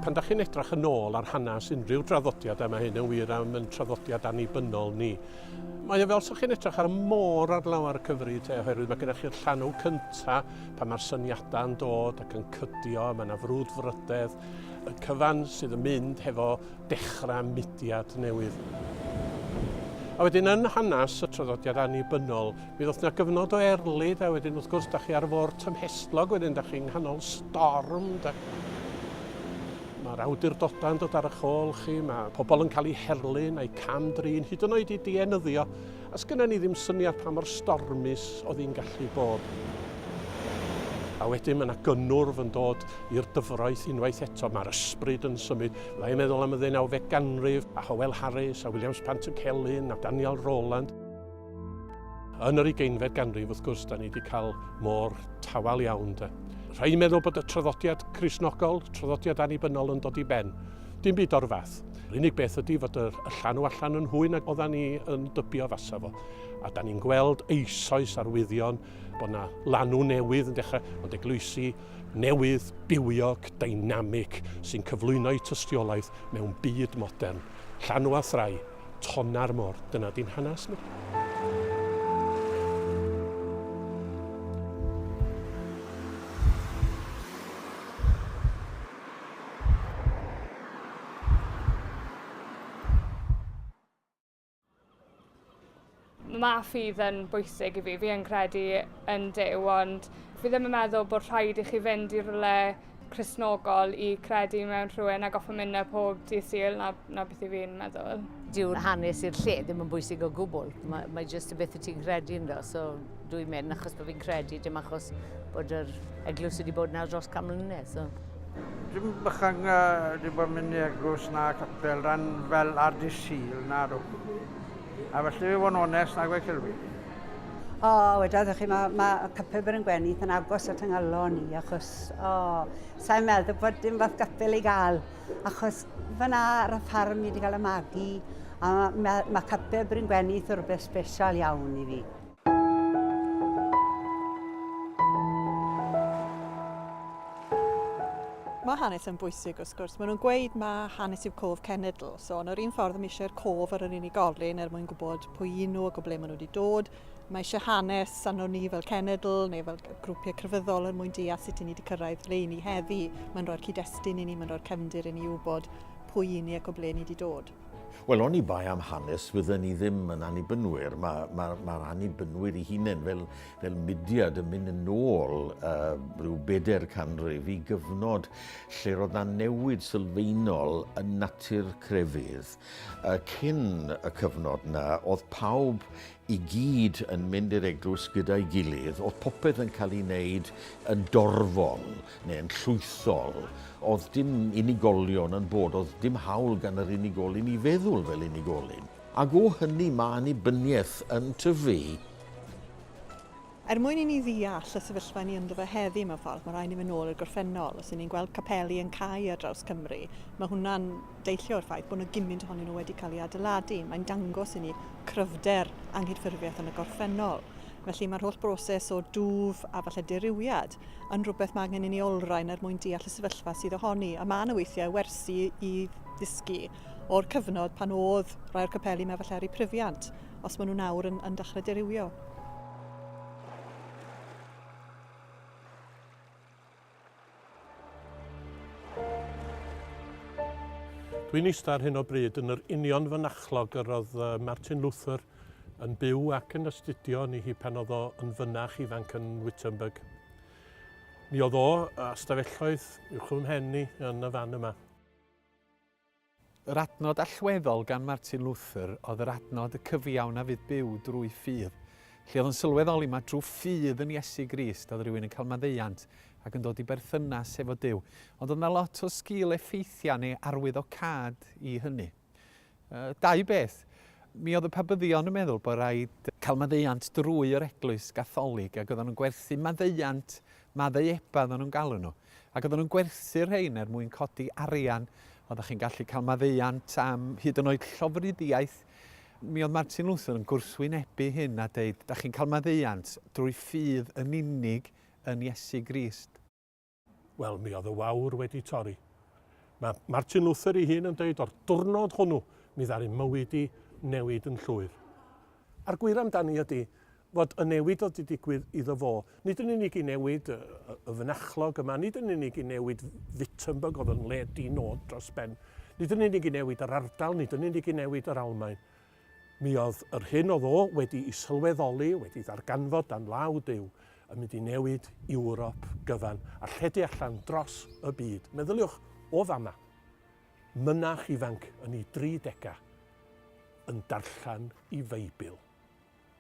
Pan da chi'n edrach yn ôl ar hanes unrhyw draddodiad, a mae hyn yn wir am yn traddodiad annibynnol ni, mae o fel sa'ch chi'n edrach ar y môr ar lawer y cyfri te, oherwydd mae gennych chi'r llanw cynta pan mae'r syniadau yn dod ac yn cydio, mae yna frwd frydedd, y cyfan sydd yn mynd hefo dechrau mudiad newydd. A wedyn yn hanes y traddodiad annibynnol, Mi ddoth na gyfnod o erlid a wedyn wrth gwrs da chi ar y fôr tymhestlog wedyn da chi'n nghanol storm. Da... Mae'r awdurdodau yn dod ar eich ôl chi, mae pobl yn cael eu herlyn a'i cam-drin, hyd yn oed i dienyddio, a sgynna ni ddim syniad pa mor stormus oedd hi'n gallu bod. A wedyn mae yna gynnwrf yn dod i'r dyfroeth unwaith eto. Mae'r ysbryd yn symud. Fydda i'n meddwl am y ddeunawfed ganrif, a Howell Harris, a Williams Pant y Celyn, a Daniel Rowland. Yn yr ugeinfed ganrif, wrth gwrs, da ni wedi cael môr tawel iawn. De. Rhaid meddwl bod y traddodiad crisnogol, traddodiad annibynnol yn dod i ben. Dim byd o'r fath. Yr unig beth ydy fod y llanw allan yn hwy nag oedda ni yn dybio fasa fo. A da ni'n gweld eisoes arwyddion bod yna lanw newydd yn dechrau, ond eglwysi newydd, bywiog, dynamic, sy'n cyflwyno'i tystiolaeth mewn byd modern. Llanw a thrai. Tonna'r Môr. Dyna di'n hanes ni. Mae ffydd yn bwysig i fi. Fi yn credu yn Duw ond fi ddim yn meddwl bod rhaid i chi fynd i rywle Cristnogol i credu mewn rhywun a goffa mynd 'na pob dydd Sul, 'na 'na beth i fi'n meddwl. Dyw'r hanes i'r lle ddim yn bwysig o gwbl. Mae, mae jyst y beth y ti'n credu ynddo. So dwi mynd achos bod fi'n credu, dim achos bod yr eglwys wedi bod yna dros can mlynedd. So. Dim bychang uh, dim bod mynd i eglwys na capel ran fel ar dy Sul, na rw. A felly fe fo'n onest nag o'i chilwi. O, wedodd chi, mae, mae cypibr yn gwenu yn agos at yngalon ni, achos, o, sa'n meddwl bod dim fath gapel i gael, achos fyna ar y ffarm ni wedi cael y magu, a mae, mae cypibr yn gwenu rhywbeth special iawn i fi. Mae hanes yn bwysig wrth gwrs. Maen nhw'n gweud mae hanes yw cof cenedl. So, yn yr un ffordd, mae eisiau'r cof ar yr unigolyn er mwyn gwybod pwy un nhw ac o ble maen nhw wedi dod. Mae eisiau hanes arno ni fel cenedl neu fel grwpiau crefyddol er mwyn deall sut i ni wedi cyrraedd le i ni heddi. Mae'n rhoi'r cyd-destun i ni, mae'n rhoi'r cefndir i ni wybod pwy i ni ac o ble ni wedi dod. Wel, oni bai am hanes, fydden ni ddim yn annibynwyr. Mae ma, ma annibynwyr i hunain fel, fel mudiad yn mynd yn ôl uh, rhyw bedair canrif i gyfnod lle roedd na newid sylfaenol yn natur crefydd. Uh, cyn y cyfnod na, oedd pawb i gyd yn mynd i'r eglwys gyda'i gilydd, oedd popeth yn cael ei wneud yn dorfol neu yn llwythol. Oedd dim unigolion yn bod, oedd dim hawl gan yr unigolyn i feddwl fel unigolyn. Ac o hynny mae annibyniaeth yn tyfu. Er mwyn i ni ddeall y sefyllfa ni ynddo fe heddi mewn ffordd, mae rhaid ni fynd nôl i'r gorffennol. Os 'yn ni'n gweld capeli yn cau ar draws Cymru, mae hwnna'n deillio o'r ffaith bod 'na gymint ohonyn nhw wedi cael eu adeiladu. Mae'n dangos i ni cryfder anghydffurfiaeth yn y gorffennol. Felly, mae'r holl broses o dwf a falle dirywiad yn rhywbeth mae angen i ni olrhain er mwyn deall y sefyllfa sydd ohoni. A mae 'na weithiau wersi i ddysgu. o'r cyfnod pan oedd rhai o'r capeli yma falle ar eu pryfiant, os maen nhw nawr yn, yn dechrau dirywio. Dwi'n eistedd ar hyn o bryd yn yr union fynachlog yr oedd Martin Luther yn byw ac yn astudio ni hi pan oedd o yn fynach ifanc yn Wittenberg. Mi oedd o a stafelloedd uwch fy mhen ni yn y fan yma. Yr adnod allweddol gan Martin Luther oedd yr adnod y cyfiawn a fydd byw drwy ffydd, lle oedd yn sylweddoli mai drwy ffydd yn Iesu Grist oedd rhywun yn cael maddeuant ac yn dod i berthynas efo Duw. Ond oedd 'na lot o sgil effeithiau neu arwyddocâd i hynny. Uh, dau beth. Mi oedd y pabyddion yn meddwl bod rhaid cael maddeuant drwy yr eglwys gatholig ac oedden nhw'n gwerthu maddeuant Maddau Eba oedden nhw'n galw nhw. Ac oedden nhw'n gwerthu'r rhein er mwyn codi arian. Oeddech chi'n gallu cael maddeuant am hyd yn oed llofruddiaeth. Mi oedd Martin Luther yn gwrthwynebu hyn a deud, da chi'n cael maddeuant drwy ffydd yn unig yn Iesu Grist. Wel, mi oedd y wawr wedi torri. Mae Martin Luther ei hun yn deud, o'r dwrnod hwnnw, mi ddaru mywyd i newid yn llwyr. A'r gwir amdani ydy, fod y newid oedd wedi digwydd iddo fo, nid yn unig i newid y, y, y fynachlog yma, nid yn unig i newid Wittenberg oedd yn le di-nod dros ben, nid yn unig i newid yr ardal, nid yn unig i newid yr Almaen. Mi oedd yr hyn oedd o wedi i sylweddoli, wedi ddarganfod dan law Duw, yn mynd i newid Ewrop gyfan a lledu allan dros y byd. Meddyliwch o fama, mynach ifanc yn ei dri degau yn darllen i Feibl.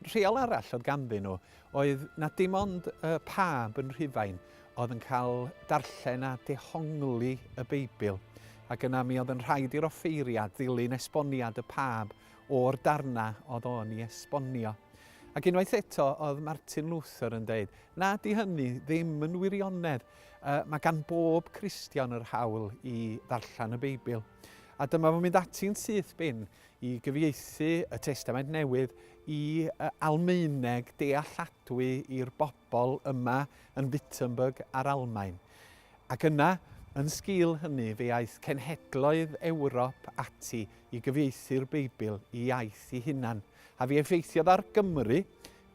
Rheol arall oedd ganddyn nhw oedd na dim ond y pab yn Rhufain oedd yn cael darllen a dehongli y Beibl, ac yna mi oedd yn rhaid i'r offeiriad ddilyn esboniad y pab o'r darnau oedd o'n i esbonio. Ac unwaith eto oedd Martin Luther yn dweud, na di hynny ddim yn wirionedd, uh, mae gan bob Cristion yr hawl i ddarllen y Beibl. A dyma fo'n mynd ati'n syth bin i gyfieithu y Testament Newydd i Almaeneg dealladwy i'r bobl yma yn Wittenberg a'r Almaen. Ac yna, yn sgil hynny, fe aeth cenhedloedd Ewrop ati i gyfieithu'r Beibl i iaith i hunan, a fe effeithiodd ar Gymru,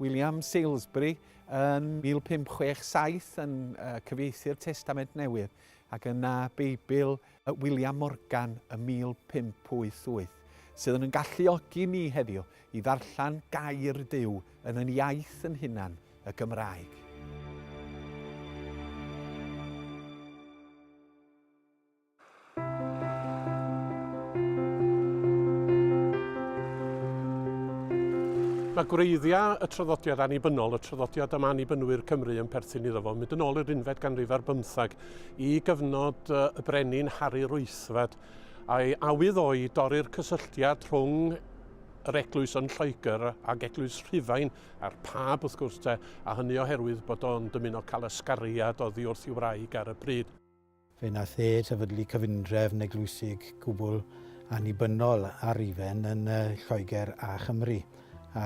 William Salesbury yn 1567 yn cyfieithu'r Testament Newydd, ac yna Beibl at William Morgan ym 1588, sydd yn yn galluogi ni heddiw i ddarllen gair Duw yn yn iaith yn hunan, y Gymraeg. Mae gwreiddiau y traddodiad annibynnol, y traddodiad am annibynwyr Cymru yn perthyn iddo fo, mynd yn ôl i'r unfed ganrif ar bymthag, i gyfnod y Brenin Harri'r Wythfed, a'i awydd o i dorri'r cysylltiad rhwng yr eglwys yn Lloegr ac eglwys Rhufain a'r pab wrth gwrs te, a hynny oherwydd bod o'n dymuno cael ysgariad oddi wrth ei wraig ar y pryd. Fe wnaeth e sefydlu cyfundrefn eglwysig gwbl annibynnol ar Rufain yn Lloegr a Chymru, a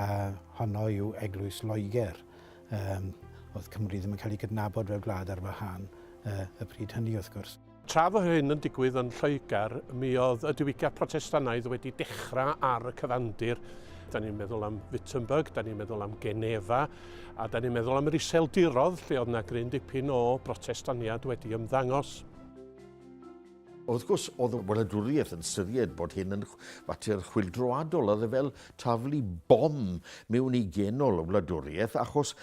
honno yw Eglwys Loegr. Um, oedd Cymru ddim yn cael ei gydnabod fel gwlad ar wahân uh, y pryd hynny wrth gwrs. Tra fo hyn yn digwydd yn Lloegr, mi oedd y diwygiad protestanaidd wedi dechrau ar y cyfandir. Da ni'n meddwl am Wittenberg, da ni'n meddwl am Geneva, a da ni'n meddwl am yr iseldirodd lle oedd yna gryn dipyn o brotestaniad wedi ymddangos. Wrth gwrs, oedd y wladwriaeth yn syried bod hyn yn fater chwildroadol, oedd e fel taflu bom mewn i genol y wladwriaeth, achos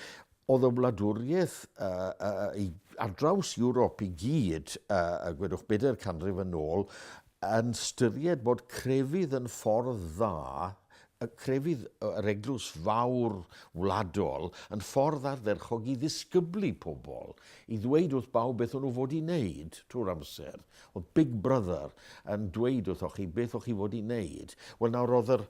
oedd y wladwriaeth uh, uh, i, ar draws Ewrop i gyd, uh, gwedwch bedair canrif yn ôl, yn styried bod crefydd yn ffordd dda y crefydd yr eglwys fawr wladol yn ffordd ardderchog i ddisgyblu pobl, i ddweud wrth bawb beth o'n nhw fod i wneud trwy'r amser. Oedd Big Brother yn dweud wrthoch chi beth o'ch chi fod i wneud. Wel nawr oedd yr,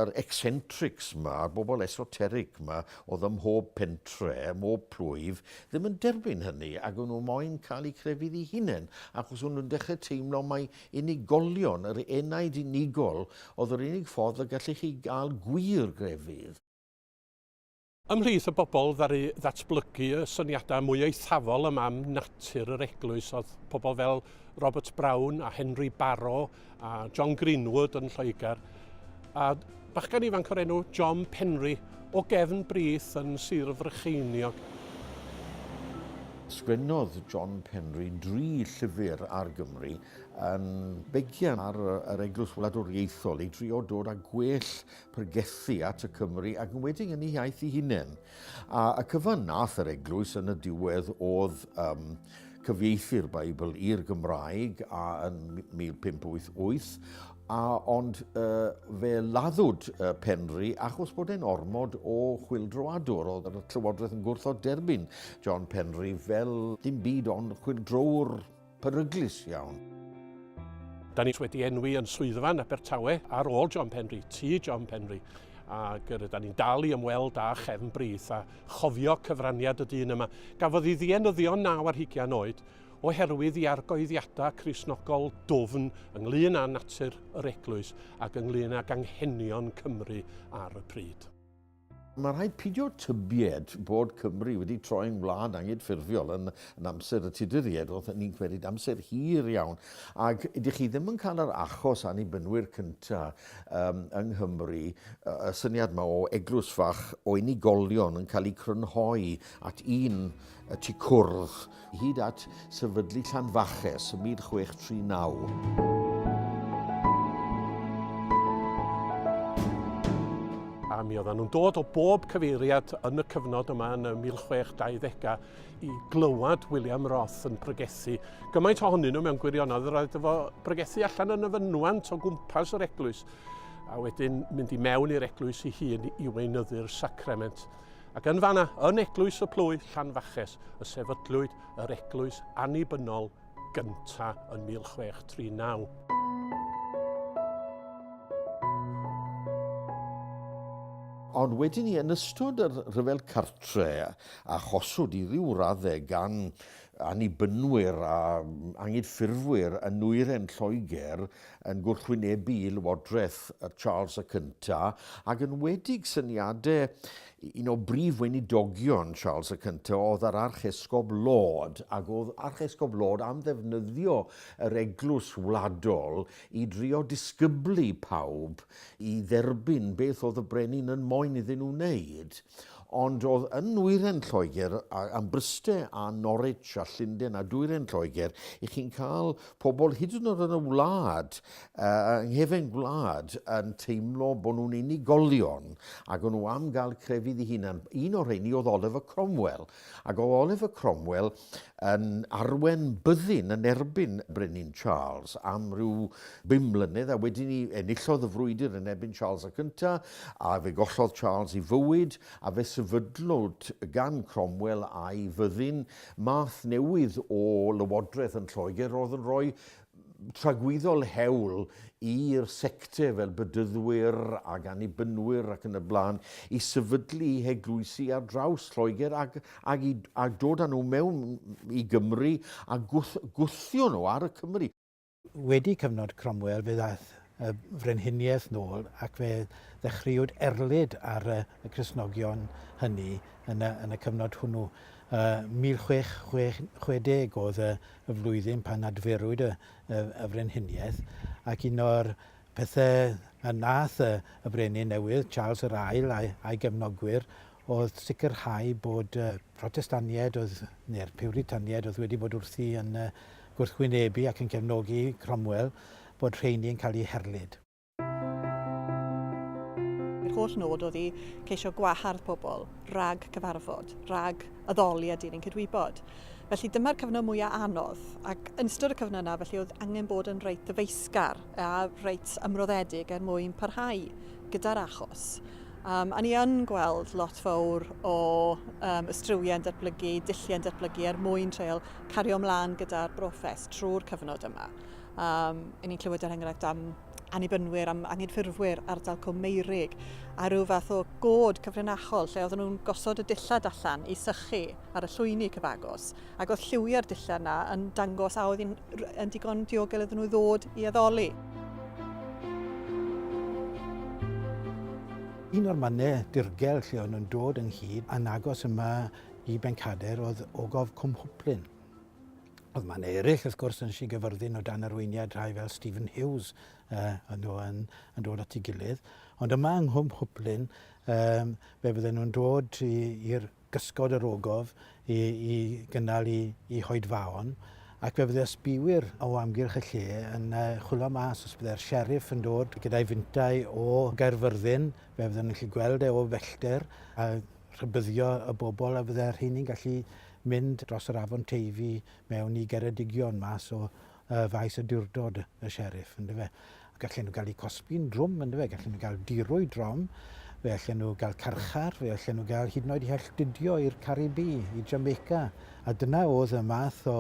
yr eccentrics ma, a'r bobl esoteric ma, oedd ym mhob pentre, ym mhob plwyf, ddim yn derbyn hynny, ac o'n nhw moyn cael eu crefydd i hunain, achos o'n nhw'n dechrau teimlo mai Unigolion, yr enaid unigol, oedd yr unig ffordd y gallech chi gael gwir grefydd. Ymhlith y bobl ddaru ddatblygu y syniadau mwy eithafol yma am natur yr eglwys oedd pobl fel Robert Brown a Henry Barrow a John Greenwood yn Lloegr. a bachgen ifanc o'r enw John Penry o gefn brith yn Sir Frycheiniog. Sgwennodd John Penry dri llyfr ar Gymru yn begian ar yr Eglwys Wladwriaethol i drio dod â gwell pregethu at y Cymry ac yn wedyn yn ei iaith ei hunain. A y cyfan nath yr Eglwys yn y diwedd oedd um, cyfieithu'r Beibl i'r Gymraeg a yn 1588 a ond uh, fe laddwyd uh, Penri achos bod e'n ormod o chwildroadwr. Oedd y Llywodraeth yn gwrthod derbyn John Penri fel dim byd ond chwildrowr peryglus iawn. Da ni wedi enwi yn swyddfan Abertawe ar ôl John Penri, ti John Penri, ac yr ydyn ni'n dal i ymweld â chefn brith a chofio cyfraniad y dyn yma. Gafodd ei ddienyddio naw ar hugian oed oherwydd i argyhoeddiadau Cristnogol dwfn ynglŷn â natur yr Eglwys ac ynglŷn ag anghenion Cymru ar y pryd. Mae rhaid pidio tybied bod Cymru wedi troi'n wlad angydffurfiol yn, yn amser y Tuduriaid, roedden ni'n cwerid amser hir iawn, ac ydych chi ddim yn cael yr achos annibynwyr cynta um, yng Nghymru, y syniad yma o eglwys fach o unigolion yn cael ei crynhoi at un y tu cwrdd hyd at sefydlu Llanfaches ym 1639. a mi oedden nhw'n dod o bob cyfeiriad yn y cyfnod yma yn y 1620au i glywed William Roth yn pregethu. Gymaint ohonyn nhw mewn gwirionedd, yr oedd efo pregethu allan yn y fynwant o gwmpas yr eglwys, a wedyn mynd i mewn i'r eglwys i hun i weinyddu'r sacrament. Ac yn fanna, yn Eglwys y Plwyf, Llanfaches, y sefydlwyd yr eglwys annibynnol gynta yn 1639. Ond wedyn ni, yn ystod yr rhyfel cartre, a choswyd i ryw raddau gan annibynwyr a angydffurfwyr yn nwyren Lloegr, yn gwrthwynebu lywodraeth Charles y Cyntaf ac yn wedig syniadau un o brif weinidogion Charles y Cyntaf oedd yr Archesgob Laud ac oedd Archesgob Laud am ddefnyddio yr eglwys wladol i drio disgyblu pawb i dderbyn beth oedd y brenin yn moyn iddyn nhw wneud. Ond oedd yn nwyren Lloegr a, am Bryste a Norwich a Llunden a dwyren Lloegr, i chi'n cael pobl hyd yn oed yn y wlad, uh, yng nghefen gwlad, yn teimlo bod nhw'n unigolion ac o'n nhw am gael crefydd i hunan. Un o'r rheini oedd Oliver Cromwell, Ac o Oliver Cromwell yn arwen byddin yn erbyn Brenin Charles am ryw bum mlynedd a wedyn ni enillodd y frwydr yn erbyn Charles y Cyntaf a fe gollodd Charles i fywyd a fe sefydlwyd gan Cromwell a'i fyddin math newydd o lywodraeth yn Lloegr roedd yn rhoi tragwyddol hewl i'r sector fel bedyddwyr ac annibynwyr ac yn y blaen i sefydlu i heglwysi ar draws Lloegr ac, ac i, a dod â nhw mewn i Gymru a gwth, gwthio nhw ar y Cymry. Wedi cyfnod Cromwell fe ddaeth y frenhiniaeth nôl ac fe ddechreuwyd erlid ar y, y Cristnogion hynny yn y, yn y cyfnod hwnnw. Uh, 1660 oedd y, y flwyddyn pan adferwyd y, y, y frenhiniaeth, ac un o'r pethau y nath y, y brenin newydd, Charles yr Ail, a'i, a'i gefnogwyr, oedd sicrhau bod y Protestaniaid oedd, neu'r Piwritaniaid oedd wedi bod wrthi yn gwrthwynebu ac yn cefnogi Cromwell, bod rheini yn cael eu herlid. Yr holl nod oedd i ceisio gwahardd pobl rhag cyfarfod, rhag addoli a dilyn cydwybod. Felly dyma'r cyfnod mwyaf anodd, ac yn ystod y cyfnod yna felly oedd angen bod yn reit ddyfeisgar a reit ymroddedig er mwyn parhau gyda'r achos. Um, a ni yn gweld lot fawr o um, ystriwiau'n datblygu, dilliau'n datblygu er mwyn treol cario ymlaen gyda'r brofes trwy'r cyfnod yma. Um, I ni'n clywed yr er enghraifft am annibynwyr, am anghydffurfwyr ardal Cwm Meirig, a rhyw fath o god cyfrinachol lle oedden nhw'n gosod y dillad allan i sychu ar y llwyni cyfagos, ac oedd lliwiau'r dillad yna yn dangos a oedd yn digon diogel iddyn nhw ddod i addoli. Un o'r mannau dirgel lle o'n nhw'n dod ynghyd a'n agos yma i Bencader oedd ogof Cwmhwplyn. Oedd mae'n eraill, wrth gwrs, yn si gyfyrddin o dan arweiniad rhai fel Stephen Hughes uh, yn, nhw yn, yn dod at ei gilydd. Ond yma yng Nghwm Hwplyn, um, fe bydden nhw'n dod i'r gysgod yr ogof i, i gynnal i, i hoedfaon, ac fe bydde ysbiwyr o amgylch y lle yn uh, chwilio mas os bydde'r sheriff yn dod gyda'i fintau o Gaerfyrddin, fe bydden nhw'n gallu gweld e o fellter, a rhybuddio y bobl a fydde'r rheini'n gallu mynd dros yr afon Teifi mewn i Geredigion mas o uh, faes y diwrdod y sheriff, ynddo fe. Gallen nhw gael eu cosbi'n drwm, ynddo fe, gallen nhw gael dirwy drom, fe allen nhw gael carchar, fe allen nhw gael hyd yn oed i helltudio i'r Caribi, i Jamaica. A dyna oedd y math o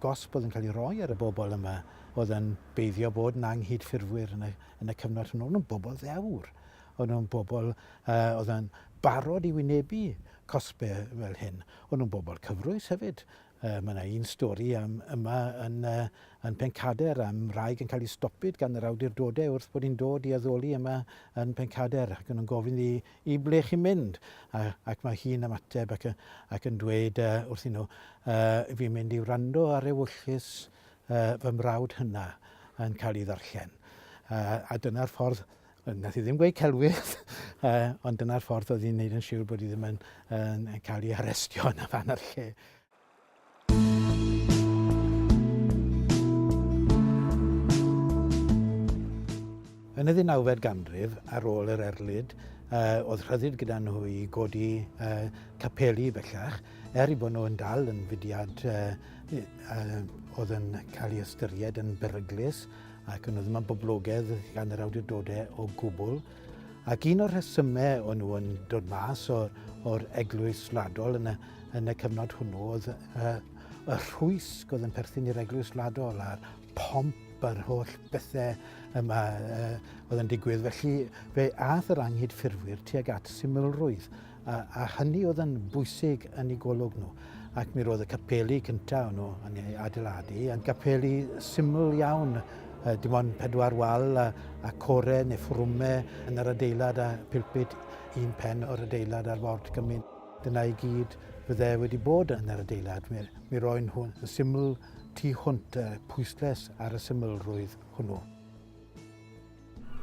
gosb oedd yn cael ei roi ar y bobl yma, oedd yn beiddio bod yn anghydffurfwyr yn y, yn y cyfnod hwnnw. Oedd nhw'n bobl ddewr. O'n nhw'n bobl oedd yn barod i wynebu cosbau fel hyn. O'n nhw'n bobl cyfrwys hefyd. Mae yna un stori am yma yn yn Pencader am wraig yn cael ei stopyd gan yr awdurdodau wrth bod hi'n dod i addoli yma yn Pencader ac o'n nhw'n gofyn i i ble chi'n mynd a, ac mae hi'n ymateb ac, ac yn dweud uh, wrthyn nhw uh, fi'n mynd i wrando ar ewyllys uh, fy mrawd hynna yn cael ei ddarllen. Uh, a dyna'r ffordd Wnaeth hi ddim gweud celwydd, ond dyna'r ffordd oedd hi'n gwneud yn siŵr bod hi ddim yn, yn cael ei arestio yn y fan a'r lle. Yn y ddeunawfed ganrif, ar ôl yr erlid, uh, oedd rhyddid gyda nhw i godi uh, capeli bellach, er i bod nhw yn dal yn fudiad uh, uh, oedd yn cael ei ystyried yn beryglus ac nhw ddim yn boblogaidd gan yr awdurdodau o gwbl. Ac un o'r rhesymau o'n nhw yn dod mas o'r, or eglwys wladol yn y, yn y cyfnod hwnnw oedd uh, y rhwysg oedd yn perthyn i'r eglwys wladol a'r pomp a'r holl bethau yma uh, oedd yn digwydd. Felly fe ath yr anghyd ffurfwyr tuag at symlrwydd A, a hynny oedd yn bwysig yn ei golwg nhw. Ac mi roedd y capeli cyntaf nhw yn ei adeiladu, yn capeli syml iawn, dim ond pedwar wal a, a core neu ffrwme yn yr adeilad a pilpit un pen o'r adeilad ar ford gymyn. Dyna i gyd fydde wedi bod yn yr adeilad. Mi, mi roen hwn yn syml tu hwnt, pwysles ar y symlrwydd hwnnw.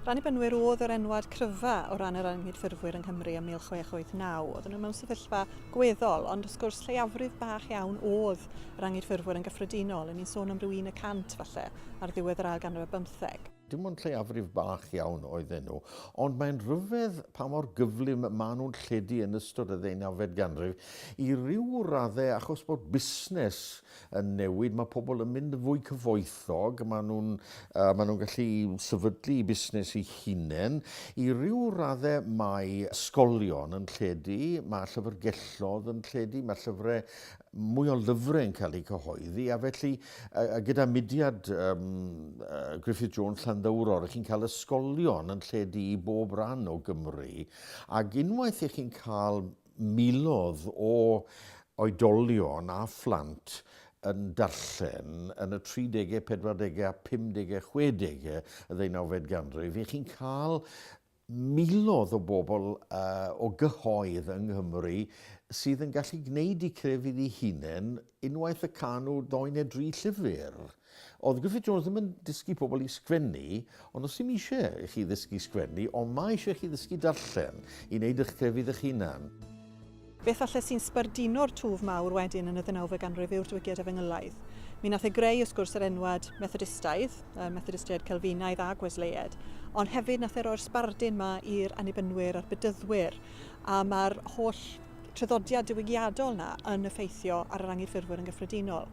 Yr Annibynwyr oedd yr enwad cryfa o ran yr anghydffurfwyr yng Nghymru ym 1689. Oedden nhw mewn sefyllfa gweddol, ond wrth gwrs lleiafrif bach iawn oedd yr anghydffurfwyr yn gyffredinol, yn ni'n sôn am ryw un y cant falle ar ddiwedd yr ail ganrif ar bymtheg. Dim ond lleiafrif bach iawn oedden nhw, ond mae'n rhyfedd pa mor gyflym maen nhw'n lledu yn ystod y ddeunawfed ganrif, i ryw raddau achos bod busnes yn newid, mae pobl yn mynd yn fwy cyfoethog, maen nhw'n uh, maen nhw gallu sefydlu busnes i hunain. I ryw raddau mae ysgolion yn lledu, mae llyfrgellodd yn lledu, mae llyfrau mwy o lyfrau yn cael eu cyhoeddi, a felly uh, gyda mudiad um, uh, Griffith Jones Llanddowror, ych chi'n cael ysgolion yn lledu i bob rhan o Gymru, ac unwaith ych chi'n cael miloedd o oedolion a phlant yn darllen yn y tridegau, pedwardegau a phumdegau, chwedegau y ddeunawfed ganrif, i chi'n cael miloedd o bobl uh, o gyhoedd yng Nghymru sydd yn gallu gwneud i crefydd ei hunain unwaith y canw ddoen neu dri llyfr. Oedd Griffith Jones ddim yn dysgu pobl i sgwennu, ond os ddim eisiau i chi ddysgu sgwennu, ond mae eisiau chi ddysgu darllen, i wneud eich crefydd eich hunan. Beth falle sy'n sbarduno'r twf mawr wedyn yn y ddeunawfed ganrif yw'r Diwygiad Efengylaidd. Mi nath e greu wrth gwrs yr enwad Methodistaidd, y Methodistiaid Celfinaidd ag Wesleiaid, ond hefyd nath e roi'r sbardun 'ma i'r Annibynwyr a'r Bedyddwyr, a ma'r holl traddodiad diwygiadol 'na yn effeithio ar yr Anghydffurfwyr yn gyffredinol.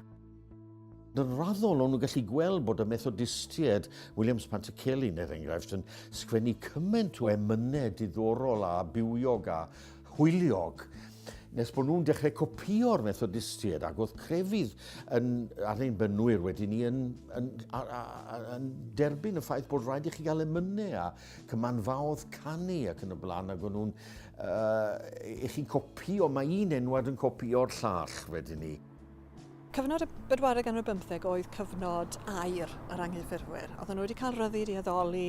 Yn raddol, o'n nhw'n gallu gweld bod y Methodistiaid, Williams Pantycelyn er enghraifft, yn sgwennu cymaint o emynau diddorol a bywiog a hwyliog nes bod nhw'n dechrau copio'r Methodistiaid ac oedd crefydd yn, ar ein bynwyr wedi ni yn, yn, yn, yn derbyn y ffaith bod rhaid i chi gael emynau a cymanfaodd canu ac yn y blaen ac o'n nhw'n uh, i chi copio, mae un enwad yn copio'r llall wedyn ni. Cyfnod y bedwaredd ganrif bymtheg oedd cyfnod air yr anghyffurfwyr. Oedden nhw wedi cael rhyddid i addoli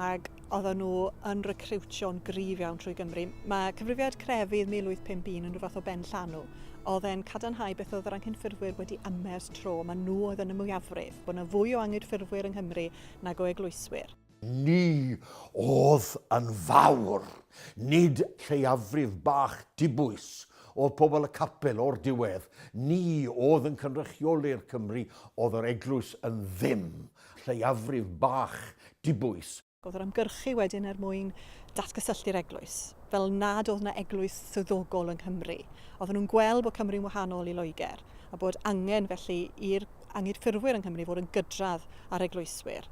ac oedden nhw yn recriwtio'n gryf iawn trwy Gymru. Mae cyfrifiad crefydd 1851 yn rhyw fath o ben llanw. Oedd e'n cadarnhau beth oedd yr anghyffurfwyr wedi ymers tro. Mae nhw oedd yn y mwyafrif, bod yna fwy o anghyffurfwyr yng Nghymru nag o eglwyswyr. Ni oedd yn fawr. Nid lleiafrif bach dibwys oedd pobl y capel o'r diwedd. Ni oedd yn cynrychioli'r Cymry oedd yr eglwys yn ddim. Lleiafrif bach dibwys. Oedd yr ymgyrchu wedyn er mwyn datgysylltu'r eglwys, fel nad oedd 'na eglwys swyddogol yng Nghymru. Oedden nhw'n gweld bod Cymru'n wahanol i Loegr, a bod angen felly i'r Angydffurfwyr yng Nghymru fod yn gydradd â'r eglwyswyr.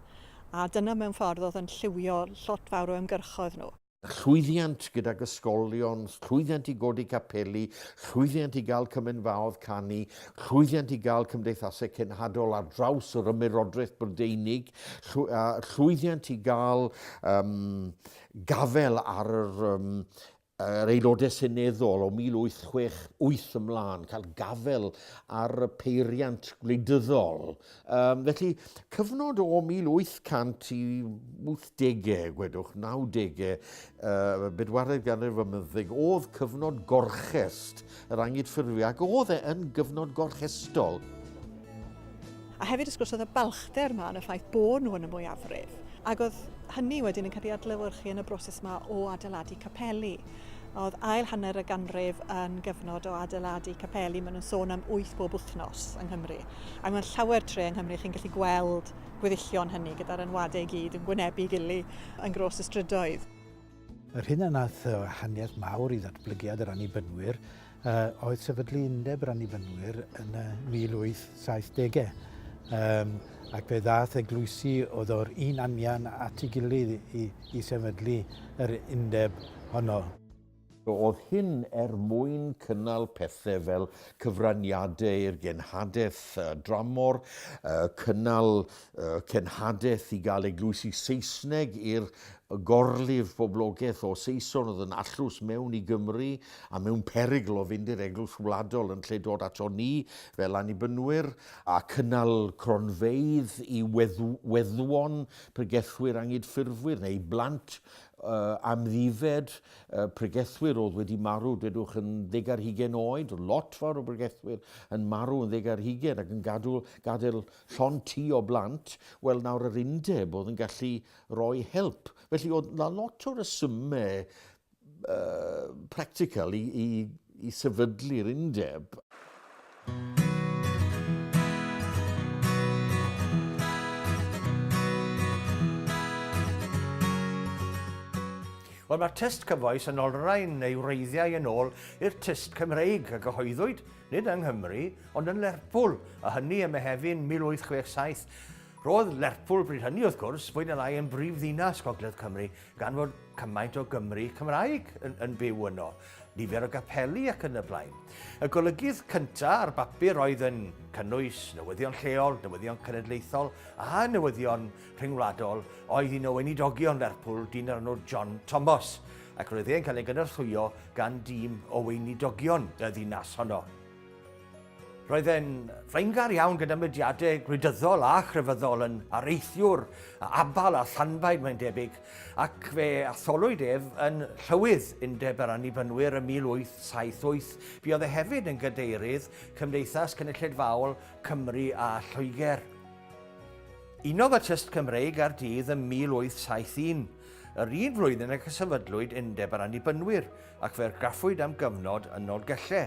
a dyna mewn ffordd oedd yn lliwio lot fawr o ymgyrchoedd nhw. Llwyddiant gydag ysgolion, llwyddiant i godi capeli, llwyddiant i gael cymenfaoedd canu, llwyddiant i gael cymdeithasau cenhadol ar draws yr Ymerodraeth Brydeinig, llwyddiant i gael um, gafel ar yr um, yr Aelodau Seneddol o 1868 ymlaen, cael gafel ar y peiriant gwleidyddol. Um, felly, cyfnod o 1800 i 80au, gwedwch, 90au, uh, bedwaredd ganrif ymyddeg, oedd cyfnod gorchest yr angydffurfio ac oedd e yn gyfnod gorchestol. A hefyd wrth gwrs oedd y balchder yma yn y ffaith bod nhw yn y mwyafrif. Ac oedd hynny wedyn yn cael ei adlewyrchu yn y broses yma o adeiladu capeli. Oedd ail hanner y ganrif yn gyfnod o adeiladu capeli, maen nhw'n sôn am wyth bob wythnos yng Nghymru. Ac mae'n llawer tre yng Nghymru chi'n gallu gweld gweddillion hynny gyda'r enwadau i gyd yn gwynebu gili yn gros y strydoedd. Yr hyn a wnaeth wahaniaeth mawr i ddatblygiad yr Annibynwyr oedd sefydlu Undeb yr Annibynwyr yn y 1870au, um, ac fe ddaeth eglwysi oedd o'r un anian at ei gilydd i, i sefydlu yr Undeb honno. Roedd hyn er mwyn cynnal pethau fel cyfraniadau i'r genhadaeth dramor, cynnal cenhadaeth i gael eglwysi Saesneg i'r gorlif boblogaeth o Saeson oedd yn allus mewn i Gymru a mewn perygl o fynd i'r eglwys wladol yn lle dod ato ni fel annibynwyr, a cynnal cronfeydd i weddwon, pregethwyr angydffurfwyr neu blant amddifed, pregethwyr oedd wedi marw, dwedwch, yn ddeg ar hugain oed, lot fawr o bregethwyr yn marw yn ddeg ar hugain ac yn gadw, gadael Llond ti o blant, wel nawr yr undeb oedd yn gallu roi help. Felly oedd na lot o resymau uh, practical i, i, i sefydlu'r undeb. Wel, mae'r tyst cyfoes yn olrhain ei wreiddiau yn ôl i'r tyst Cymreig a gyhoeddwyd Nid yng Nghymru, ond yn Lerpwl, a hynny ym Mehefin 1867. Roedd Lerpwl bryd hynny, wrth gwrs, fwy na lai yn brif ddinas Gogledd Cymru, gan fod cymaint o Gymry Cymraeg yn, yn byw yno, nifer o gapeli ac yn y blaen. Y golygydd cyntaf ar bapur oedd yn cynnwys newyddion lleol, newyddion cenedlaethol a newyddion rhyngwladol oedd un o weinidogion Lerpwl, dyn o'r enw John Thomas, ac roedd e'n cael ei gynorthwyo gan dîm o weinidogion y ddinas honno. Roedd e'n flaengar iawn gyda mudiadau gwleidyddol a chrefyddol yn areithiwr a abal a llanbaid mae'n debyg, ac fe atholwyd ef yn llywydd Undeb yr Annibynwyr ym 1878. Fi oedd e hefyd yn gadeirydd Cymdeithas Cynulleidfaol Cymru a Lloegr. Unodd y tyst Cymreig a'r dydd ym 1871, yr un flwyddyn ac y sefydlwyd Undeb yr Annibynwyr, ac fe argraffwyd am gyfnod yn Nolgelle.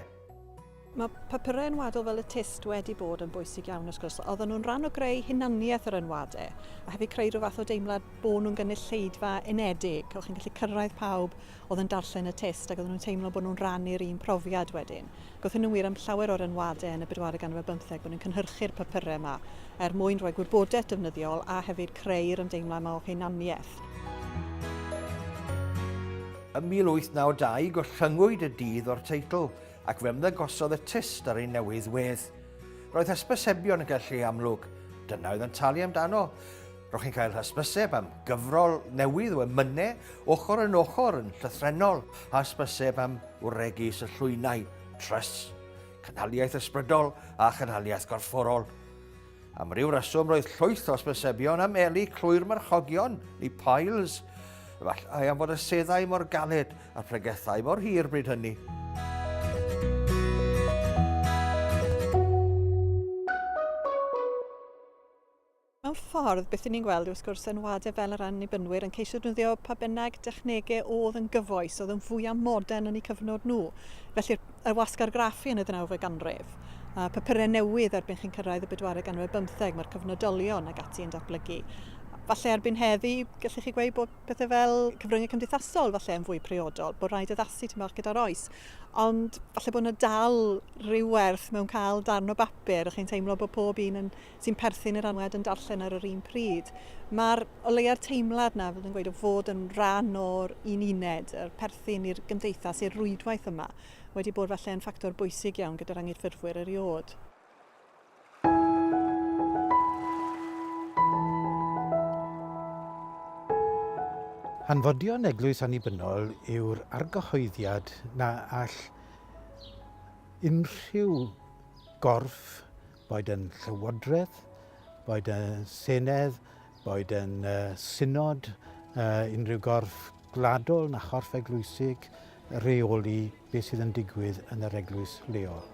Mae papurau enwadol fel y tyst wedi bod yn bwysig iawn wrth gwrs. Oedden nhw'n rhan o greu hunaniaeth yr enwadau a hefyd creu rhyw fath o deimlad bod nhw'n gynulleidfa unedig. O'ch chi'n gallu cyrraedd pawb oedd yn darllen y tyst ac oedden nhw'n teimlo bod nhw'n rhannu'r un profiad wedyn. Gothon nhw wir am llawer o'r enwadau yn y bedwaredd ganrif ar bymtheg bod yn cynhyrchu'r papurau yma er mwyn rhoi gwybodaeth defnyddiol a hefyd creu'r ymdeimlau yma o hunaniaeth. Ym 1892 gollynngwyd y dydd o'r teitl ac fe ymddangosodd y tyst ar ei newydd wedd. Roedd hysbysebion yn cael lle amlwg, dyna oedd yn talu amdano. Ro'ch chi'n cael hysbyseb am gyfrol newydd o emynau ochr yn ochr yn llythrenol a hysbyseb am wregu syllwynau, trusts, cynhaliaeth ysbrydol a chynhaliaeth gorfforol. Am ryw reswm roedd llwyth o hysbysebion am eli clwy'r marchogion, neu piles, efallai am fod y seddau mor galed a'r pregethau mor hir bryd hynny. Mewn ffordd, beth 'yn ni'n gweld yw wrth gwrs enwadau fel yr Annibynwyr yn ceisio defnyddio pa bynnag dechnegau oedd yn gyfoes, oedd yn fwyaf modern yn eu cyfnod nhw. Felly'r y wasg argraffu yn y ddeunawfed ganrif, a papurau newydd erbyn chi'n cyrraedd y bedwaredd ganrif ar bymtheg, mae'r cyfnodolion ac ati yn datblygu. Falle erbyn heddi, gallech chi gweud bod pethau fel cyfryngau cymdeithasol falle yn fwy priodol, bod rhaid addasu tymor gyda'r oes. Ond falle bod yna dal rhyw werth mewn cael darn o bapur a chi'n teimlo bod pob un yn sy'n perthyn i'r anwed yn darllen ar yr un pryd. Mae'r o leia'r teimlad na fydd yn gweud o fod yn rhan o'r un uned, yr perthyn i'r gymdeithas, i'r rwydwaith yma, wedi bod falle yn ffactor bwysig iawn gyda'r anghydffurfwyr eriod. Hanfodion eglwys annibynnol yw'r argyhoeddiad na all unrhyw gorff boed yn Llywodraeth, boed yn Senedd, boed yn uh, synod, uh, unrhyw gorff gwladol na chorff eglwysig, reoli beth sydd yn digwydd yn yr eglwys leol.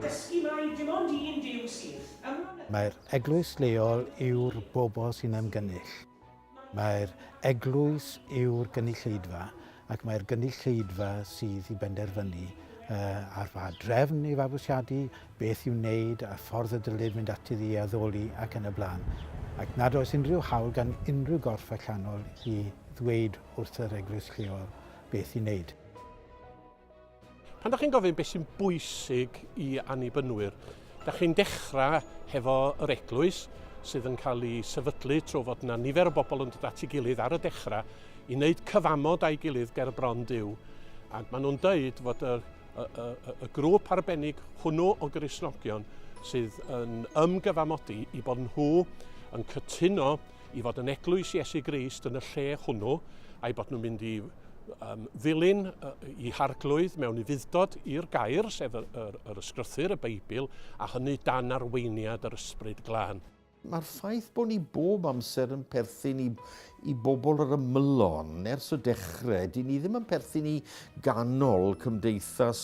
Dysgu mai dim ond un Duw sydd. Mae'r eglwys leol yw'r bobl sy'n ymgynnull. Mae'r eglwys yw'r gynulleidfa ac mae'r gynulleidfa sydd i benderfynu ar ba drefn i fabwysiadu, beth i'w wneud a'r ffordd y dylid mynd ati iddi addoli ac yn y blaen. Ac nad oes unrhyw hawl gan unrhyw gorff allanol i ddweud wrth yr eglwys lleol beth i wneud. Pan da chi'n gofyn beth sy'n bwysig i annibynwyr, da chi'n dechrau hefo yr eglwys sydd yn cael ei sefydlu trwy fod yna nifer o bobl yn dod at ei gilydd ar y dechrau i wneud cyfamod a'i gilydd ger bron Dyw. Ac maen nhw'n dweud fod y, y, y, y grŵp arbennig hwnnw o grisnogion sydd yn ymgyfamodi i bod nhw yn cytuno i fod yn eglwys Iesu Grist yn y lle hwnnw, a'i bod nhw'n mynd i um, ddilyn i harglwydd mewn ufuddod i'r gair, sef yr, yr, yr ysgrythyr, y Beibl, a hynny dan arweiniad yr ysbryd glân. Mae'r ffaith bod ni bob amser yn perthyn i, i bobl yr ymylon ers y dechrau, dyn ni ddim yn perthyn i ganol cymdeithas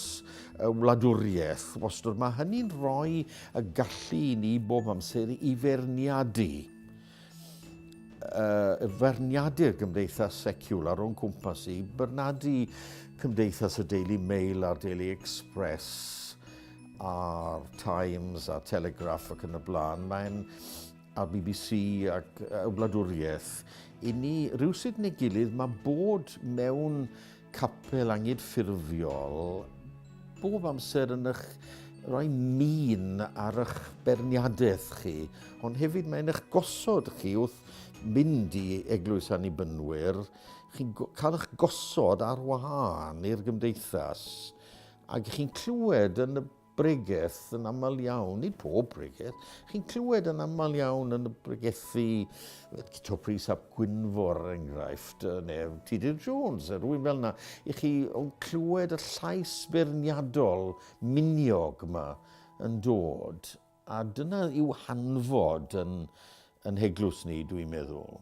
y wladwriaeth wastad. Mae hynny'n rhoi y gallu i ni bob amser i ferniadu. uh, feirniadu'r gymdeithas seciwlar o'n cwmpas i, bernadu cymdeithas y Daily Mail a'r Daily Express a'r Times a'r Telegraph ac yn y blaen. Mae'n a'r BBC ac y wladwriaeth. I ni, rhywsyd neu gilydd, mae bod mewn capel angydffurfiol bob amser yn eich rhoi min ar eich berniadaeth chi, ond hefyd mae'n eich gosod chi wrth mynd i Eglwys Annibynwyr, chi'n cael eich gosod ar wahân i'r gymdeithas, ac chi'n clywed yn y bregeth yn aml iawn, nid pob bregeth, chi'n clywed yn aml iawn yn y bregethu Cito Pris ap Gwynfor er enghraifft, neu Tudur Jones, er rwy'n fel yna, i chi o'n clywed y llais beirniadol miniog yma yn dod, a dyna yw hanfod yn, yn heglwys ni, dwi'n meddwl.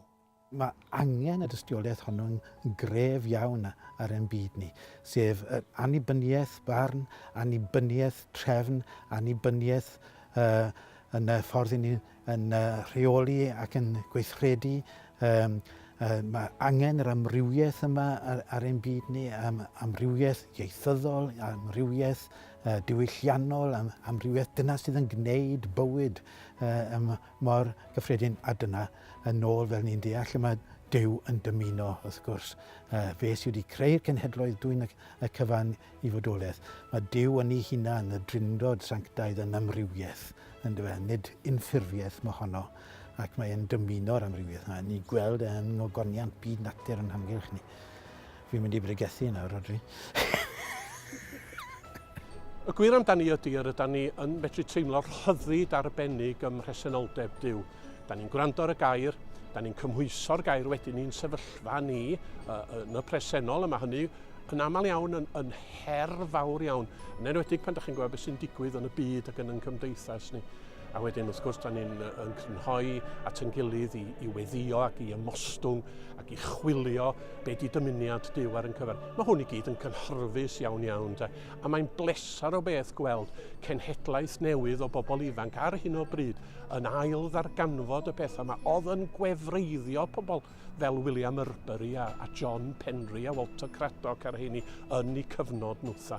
Mae angen y dystiolaeth honno'n gref iawn ar ein byd ni, sef yr annibyniaeth barn, annibyniaeth trefn, annibyniaeth uh, yn y ffordd i ni'n yn, uh, rheoli ac yn gweithredu. Um, uh, mae angen yr amrywiaeth yma ar, ar ein byd ni, um, amrywiaeth ieithyddol, amrywiaeth uh, diwylliannol, am, amrywiaeth dyna sydd yn gwneud bywyd uh, ym mor gyffredin a dyna, yn ôl fel ni'n deall, lle mae Duw yn dymuno, wrth gwrs. Uh, fe sydd wedi creu'r cenhedloedd dwy'n y cyfan i fodolaeth. Mae Duw yn ei hunan, y drindod sanctaidd yn amrywiaeth, yn dyfa, e, nid unffurfiaeth mae honno, ac mae'n dymuno'r amrywiaeth yna. Ni'n gweld e yn ogoniant byd natur yn hamgylch ni. Fi'n mynd i bregethu nawr, Rhodri. Y gwir amdani ydy yr ydan ni yn medru teimlo'r rhyddid arbennig ym mhresenoldeb Dyw. Da ni'n gwrando ar y gair, da ni'n cymhwyso'r gair wedyn ni'n sefyllfa ni yn y presennol, yma hynny yn aml iawn yn, yn her fawr iawn, yn enwedig pan da chi'n gweld beth sy'n digwydd yn y byd ac yn yn cymdeithas ni. A wedyn, wrth gwrs, da ni'n yn crynhoi at yn gilydd i, i weddio ac i ymostwng ac i chwilio be di dymuniad Dyw ar yn cyfer. Mae hwn i gyd yn cynhyrfus iawn iawn, de. a mae'n bleser o beth gweld cenhedlaeth newydd o bobl ifanc ar hyn o bryd yn ail ddarganfod y pethau yma oedd yn gwefreiddio pobl fel William Urbury a, a John Penry a Walter Craddock a'r heini yn eu cyfnod nhwtha.